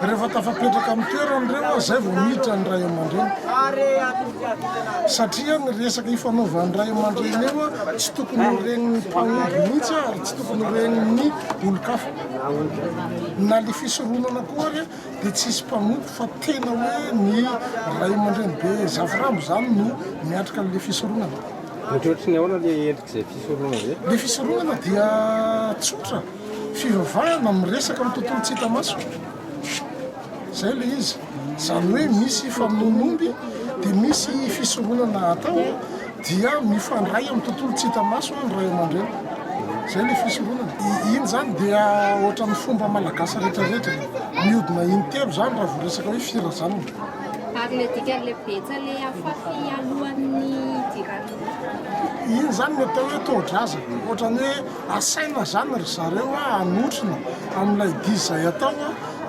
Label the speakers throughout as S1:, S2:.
S1: Rehefa tafapetraka amin'ny toerany ireo an, izay vao miditra ny ray aman-dreny. Satria ny resaka ifanaovan'ny ray aman-dreny eo an, tsy tokony ho ren'ny mpanompy mihitsy an, ary tsy tokony ho ren'ny olon-kafa. Na ilay fisoronana koa ary an, dia tsy hisy mpanompy fa tena hoe ny ray aman-dreny be zafirambo izany no miatrika an'ilay fisoronana. Mihoatry ny ahoana
S2: ilay endrik'izay fisoronana izay? Ilay fisoronana dia
S1: tsotra. fivavahana miresaka amin'ny tontolo tsy hita maso izay ilay izy izany hoe misy famonoan'omby dia misy fisoronana atao dia mifandray amin'ny tontolo tsy hita maso ny ray aman-dreny izay ilay fisoronana iny izany dia ohatran'ny fomba malagasy rehetrarehetra mihodina intelo izany raha vao resaka hoe firazanana ary le
S3: dikan'le betsa le afafy alohan'ny
S1: jirany iny izany ny atao hoe tohodraza ohatran'ny hoe Asaina izany ry zareo hanotrona amin'ilay dihy izay atao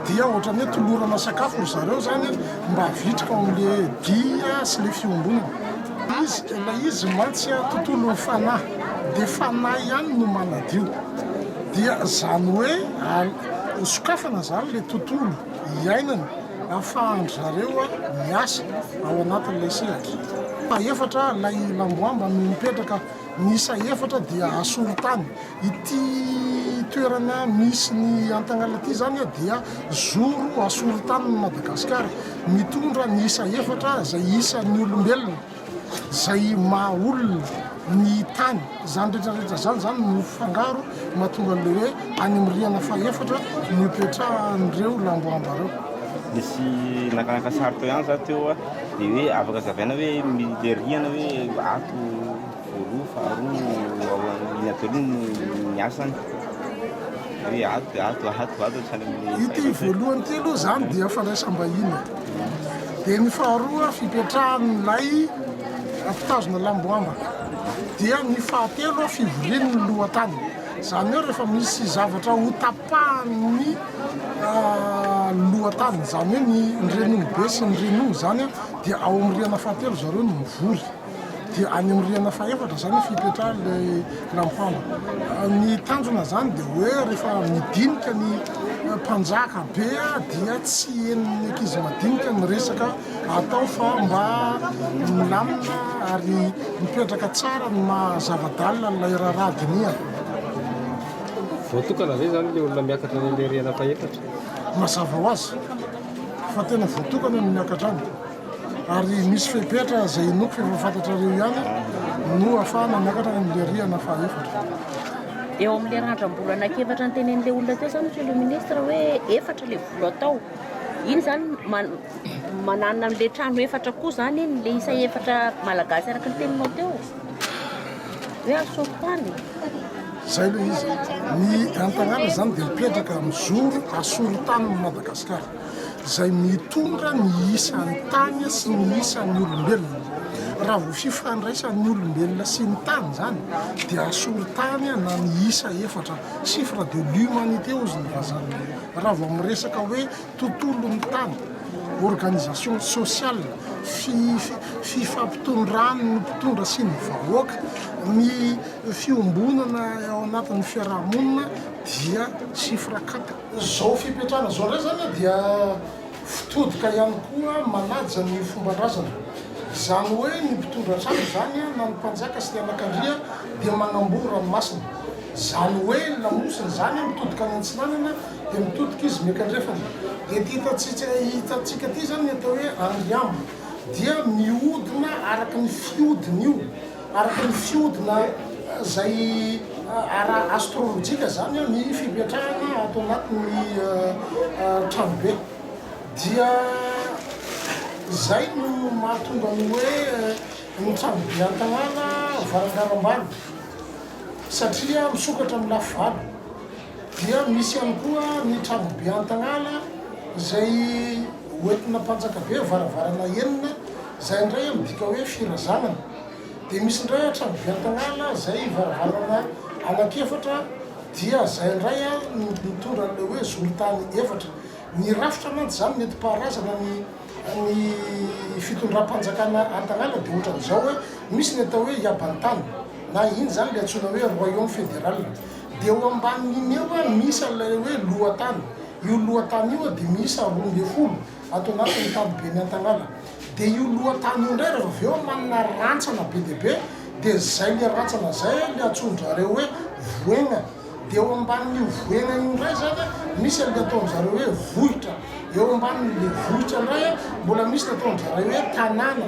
S1: dia ohatran'ny hoe tolorana sakafo ry zareo izany mba vitrika ao amin'ilay dihy sy ilay fiombonana. Izy, ilay izy mantsy tontolon'ny fanahy dia fanahy ihany no manadio. Dia izany hoe sokafana izany ilay tontolo iainana ahafahan-dry zareo miasa ao anatin'ilay sehatra fahefatra ilay lamboamba no mipetraka. Miisa efatra dia asolo tany. Ity toerana misy ny Antagnala ity izany dia zoro asolo tanin'i Madagasikara. Mitondra ny isa efatra izay isan'ny olombelona izay maha olona ny tany. Izany rehetrarehetra izany izany no mifangaro mahatonga an'ilay hoe any amin'ny rihana fahefatra no ipetrahan'ireo lamboamba ireo. Nisy
S2: naka-naka sary teo ihany za teo a. Dia hoe afaka hazavaina hoe militteriana hoe ato voaloha faharoa iny ato aloha no niasany. Hoe ato dia ato, ato, ato hatrany amin'ny Ity fahaefatra. voalohany ity
S1: aloha izany dia fandraisam-bahiny. Dia ny faharoa fipetrahan'ilay mpitazona lamboambaka. Dia ny fahatelo fivorian'ny lohatany. Izany hoe rehefa misy zavatra hotapahan'ny lohatany, izany hoe ny ny reninibe sy ny reniho izany a, dia ao amin'ny rihana fahatelo zareo no mivory, dia any amin'ny rihana fahefatra izany efa ipetrahan'ilay lampango. Ny tanjona izany dia hoe rehefa midinika ny mpanjaka be a, dia tsy henon'ny ankizy madinika ny resaka atao fa mba milamina ary mipetraka tsara ny maha zava-dalina an'ilay raharaha dinihana.
S2: Voatokana ve izany ilay olona miakatra any amin'ilay rihana fahefatra? Mazava ho
S1: azy fa tena voatokana ny miakatra any, ary misy fepetra izay inoako fa efa fantatrareo ihany no ahafahana miakatra any amin'ilay rihana fahefatra. Eo
S3: amin'ilay randram-bola anankiefatra notenenin'ilay olona teo izany, Monsieur le Ministre, hoe efatra ilay vola atao. Iny izany man- manana an'ilay trano efatra koa izany iny, ilay isa efatra malagasy araka ny teninao teo. Izay
S1: ilay izy. Ny Antanàna izany dia mipetraka mijoro asorin-tanin'i Madagasikara, izay mitondra ny isan'ny tany sy ny isan'ny olombelona. Raha vao fifandraisan'ny olombelona sy ny tany izany dia asorin-tany na ny isa efatra, chiffre de l'humanité hozy ny vazaha. Raha vao miresaka hoe tontolon'ny tany, organisation sociale, fifampitondran'ny mpitondra sy ny vahoaka, ny fiombonana ao anatin'ny fiarahamonina dia chiffre quatre. Izao fipetrahana izao indray izany dia fitodika ihany koa manaja ny fomban-drazana. Izany hoe ny mpitondra hatrany izany na ny mpanjaka sy ny anakandria dia manamboho ranomasina. Izany hoe ny lamosina izany mitodika any antsinanana. Dia mitodika izy miankandrefana. Dia ity hitantsika hitantsika ity izany ny atao hoe andry ambiny. Dia mihodina araka ny fihodin'io, araka ny fihodina izay ara astrolojika izany ny fipetrahana ato anatin'ny tranobe. Dia izay no mahatonga ny hoe ny tranobe Antanàna varangarambany satria misokatra amin'ny lafy valo. dia misy ihany koa ny Trabobe Antagnala izay hoentina Mpanjakabe varavarana enina izay indray midika hoe firazanana, dia misy indray a Trabobe Antagnala izay varavarana anankiefatra dia izay indray a no mitondra an'ilay hoe zoron-tany efatra, ny rafitra mantsy izany nentim-paharazana ny ny fitondram-panjakana Antagnala dia ohatran'izao hoe misy ny atao hoe Iabantany na iny izany ilay antsoina hoe Royaume Fédéral. Dia eo ambanin'iny eo misy an'ilay hoe lohatany. Io lohatany io dia miisa roa ambin'ny folo ato anatin'ny Ankadiben'i Antagnala. Dia io lohatany io indray rehefa avy eo manana rantsana be dia be dia izay ilay rantsana izay ilay antsoin-drizareo hoe voaigna. Dia eo ambanin'io voaigna io indray izany misy an'ilay ataon-drizareo hoe vohitra. Eo ambanin'ilay vohitra indray mbola misy ny ataon-drizareo hoe tanàna.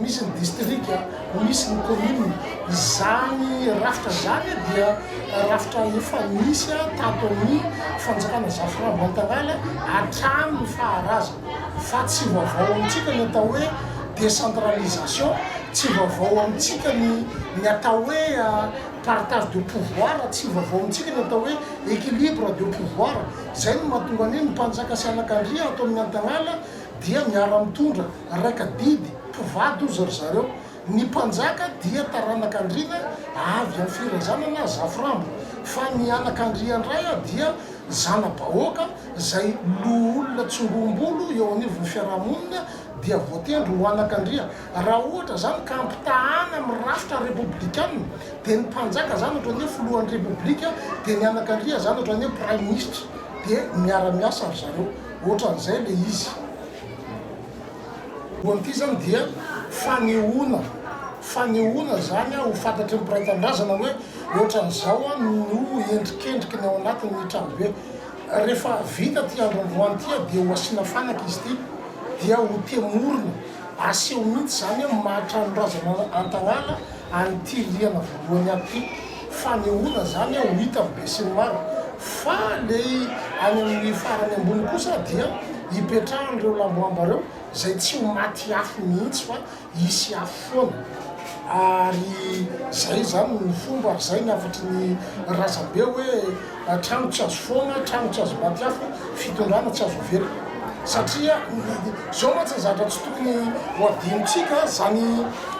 S1: misy ny distrika, misy ny commune, izany rafitra izany dia rafitra efa nisy tato amin'ny fanjakana Zafra Bantangala hatramin'ny faharazany fa tsy vaovao amintsika ny atao hoe décentralisation, tsy vaovao amintsika ny ny atao hoe partage de pouvoir, tsy vaovao amintsika ny atao hoe équilibre de pouvoir, izay no mahatonga anie ny mpanjaka sy anakandria ato amin'ny Antagnala dia miara-mitondra. Raika didy, mpivady ozy ry zareo. Ny mpanjaka dia taranak' andriana avy amin'ny firazanana Zaforambo, fa ny anak' andrian-dray dia zana-bahoaka izay loholona tsongombolo eo anivon'ny fiaraha-monina dia voatendry ho anak' andria. Raha ohatra izany ka ampitahana amin'ny rafitra repoblikana dia ny mpanjaka izany ohatran'ny hoe filohan'ny repoblika dia ny anak' andria izany ohatran'ny hoe praiminisitra dia miara-miasa ry zareo. Ohatran'izay ilay izy. Voalohany ity izany dia fanehoana, fanehoana izany ho fantatry ny mpiray tanindrazana hoe ohatran'izao no endrikendriky ny ao anatin'ny tranobe. Rehefa vita ity andro androany ity dia ho asiana fanaka izy ity dia ho temorina, aseho mihitsy izany amin'ny maha-tranondrazana Antagnala an'ity rihana voalohany avy ity. Fanehoana izany ho hitan'ny besinimaro. Fa ilay any amin'ny farany ambony kosa dia hipetrahan'ireo lamboamba ireo izay tsy ho maty afo mihitsy fa hisy afo foana. Ary izay izany no fomba, ary izay ny hafatry ny razambe hoe trano tsy azo foana, trano tsy azo maty afo, fitondrana tsy azo avela. Satria izao mantsy ny zavatra tsy tokony ho hadinontsika, izany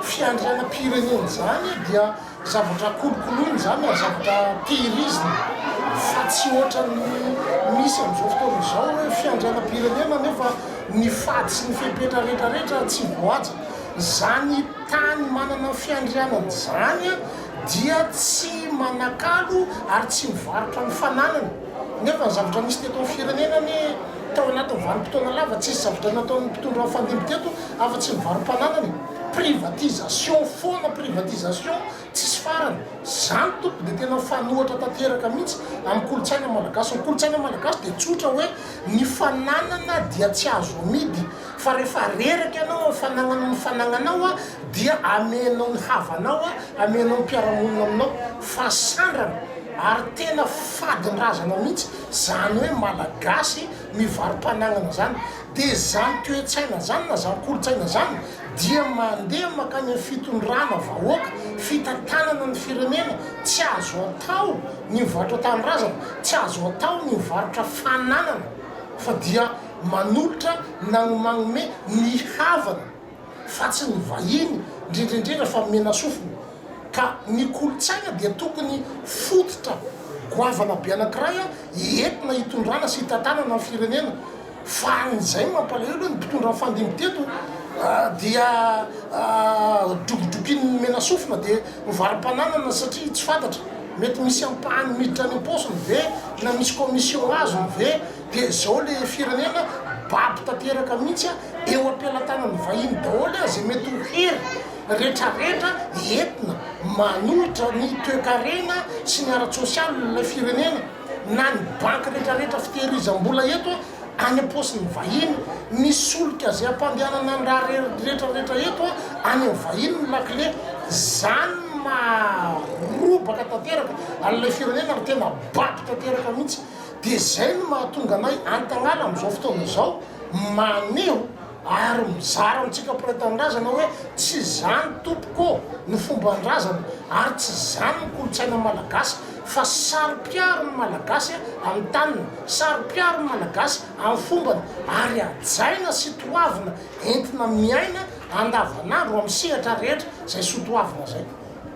S1: fiandrianam-pirenena izany dia. Zavatra kolokoloina izany ary zavatra tehirizina fa tsy ohatran'ny misy amin'izao fotoana izao hoe fiandrianam-pirenena nefa ny fady sy ny fepetra rehetra rehetra tsy voahaja. Izany tany manana fiandrianana izany dia tsy manakalo ary tsy mivarotra ny fananany nefa ny zavatra nisy teto amin'ny firenena anie tao anatin'ny vanim-potoana lava tsisy zavatra nataon'ny mpitondra fandimby teto afa-tsy ny varom-pananana e! Privatisation foana privatisation tsisy farany. Zany tompoko dia tena fanohatra tanteraka mihitsy amin'ny kolontsaina malagasy. Ny kolontsaina malagasy dia tsotra hoe ny fananana dia tsy azo amidy fa rehefa reraka ianao amin'ny fanagnana ny fanagnanao dia amenao ny havanao amenao ny mpiara-monina aminao fa sandrana ary tena fadin-drazana mihitsy zany hoe malagasy mivaro-panagnana zany. Dia izany toe-tsaina izany na izany kolontsaina izany dia mandeha mankany amin'ny fitondrana vahoaka, fitantanana ny firenena, tsy azo atao ny mivarotra tanindrazana, tsy azo atao ny mivarotra fananana fa dia manolotra nagnomagnomey ny havany fa tsy ny vahiny ndrendrendrendra fa menasofina ka ny kolontsaina dia tokony fototra goavana be anakiray entina hitondrana sy hitantanana ny firenena Faran'izay mampalahelo hoe ny mpitondra nifandimby teto dia drokodrokin'ny menasofina dia novarom-pananana satria tsy fantatra, mety misy ampahany miditra any am-paosiny ve na misy commission azony ve dia izao ilay firenena babo tanteraka mihitsy an, eo am-pelatanan'ny vahiny daholo an izay mety ho hery retraretra entina manohitra ny toekarena sy ny ara-tsosialin'ilay firenena. na ny banky retraretra fitehirizam-bola eto any am-paosin'ny vahiny, ny solika izay ampandehanana ny raha retraretra eto any amin'ny vahiny ny lakile, izany no maharobaka tanteraka an'ilay firenena ary tena bado tanteraka mihitsy, dia izay no mahatonga anay antagnala amin'izao fotoana izao maneho. ary mizara amintsika mpiray tanindrazana hoe tsy izany tompoko ô no fomban-drazana ary tsy izany ny kolontsaina malagasy fa saro-piaro ny malagasy amin'ny taniny, saro-piaro ny malagasy amin'ny fombany ary hajaina sy toavina entina miaina andavanandro amin'ny sehatra rehetra izay soatoavina izay.